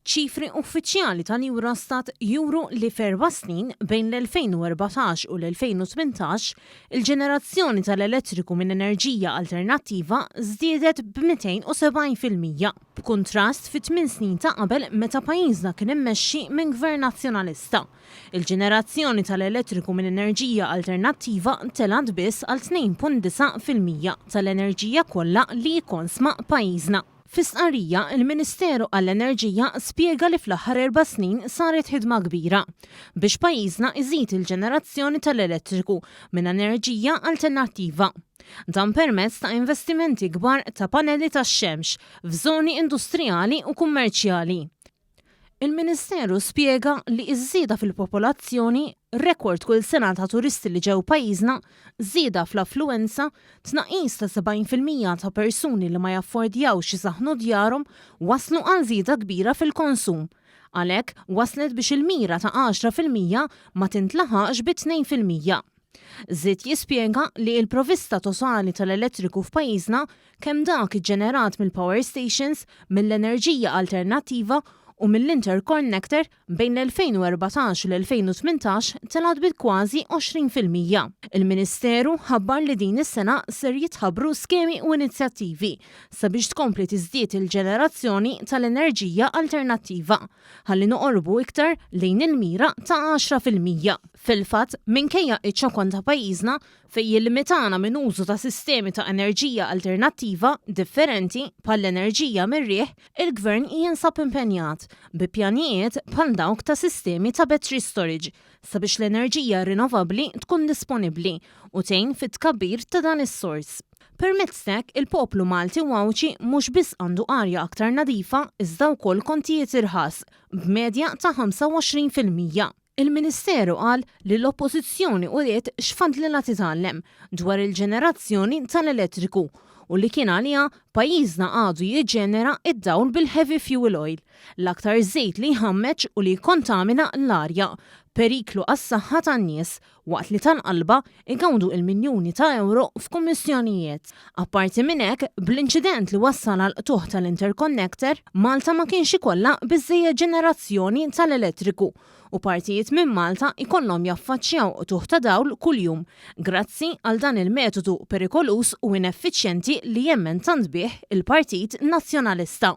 Ċifri uffiċjali tal-Eurostat juru li f'erba' snin, bejn l-2014 u l-2018, il-ġenerazzjoni tal-elettriku minn enerġija alternattiva żdiedet b'270 fil-mija, b'kuntrast fit-tmien snin ta' qabel meta pajjiżna kien immexxi minn Gvern Nazzjonalista. Il-ġenerazzjoni tal-elettriku minn enerġija alternattiva telgħet biss għal 2.9 fil-mija tal-enerġija kollha li jikkonsma pajjiżna. Fi stqarrija, il-Ministeru għall-Enerġija spjega li fl-aħħar erba' snin saret ħidma kbira biex pajjiżna iżid il-ġenerazzjoni tal-elettriku minn enerġija alternattiva. Dan permezz ta' investimenti kbar ta' panelli tax-xemx f'żoni industrijali u kummerċjali. Il-Ministeru spjega li ż-żieda fil-popolazzjoni, rekord kull sena ta' turisti li ġew pajjiżna, żieda fl-affluwenza, tnaqqis ta' 70 fil-mija ta' persuni li ma jaffordjawx isaħħnu djarhom wasslu għal żieda kbira fil-konsum. Għalhekk, wasslet biex il-mira ta' 10 fil-mija ma tintlaħaqx bi tnejn fil-mija. Żied jispjega li l-provista totali tal-elettriku f'pajjiżna, kemm dak iġġenerat mill-power stations, mill-enerġija alternattiva u mill-intercornector bejn l-2014 u l-2018 telgħet bi kważi 20 fil-mija. Il-Ministeru ħabbar li din is-sena ser jitħabbru skemi u inizjattivi sabiex tkompli tiżdied il-ġenerazzjoni tal-enerġija alternattiva. ħalli noqorbu iktar lejn il-mira ta' għaxra fil-mija. Fil-fatt, minkejja ċ-ċokon ta' pajjiżna, fejn jillimitana minn użu ta' sistemi ta' enerġija alternattiva differenti bħall-enerġija mir-riħ, il-Gvern jinsab impenjat bi pjanijiet bħal dawk ta' sistemi ta' battery storage sabiex l-enerġija rinnovabbli tkun disponibbli u tgħin fit-tkabbir ta' dan is-sors. Permezz t'hekk, il-poplu Malti u Għawdxi mhux biss għandu arja aktar nadifa iżda wkoll kontijiet irħas, b'medja ta' 25 fil-mija. Il-Ministeru qal li l-Oppożizzjoni uriet x'fadlilha titgħallem dwar il-ġenerazzjoni tal-elettriku u li kien għaliha pajjiżna għadu jiġġenera d-dawl bil-heavy fuel oil, l-aktar żejt li jħammeġ u li jikkontamina l-arja, periklu għas-saħħa tan-nies waqt li tal-qalba jgawdu il-miljuni ta' ewro f'kummissjonijiet. Apparti minn hekk, bl-inċident li wassal għall-qtugħ tal-interconnector, Malta ma kienx ikollha biżżejjed ġenerazzjoni tal-elettriku u partijiet minn Malta jkollhom jaffaċċjaw qtugħ ta' dawl kuljum grazzi għal dan il-metodu perikoluż u ineffiċjenti li jemmen tant bih il-Partit Nazzjonalista.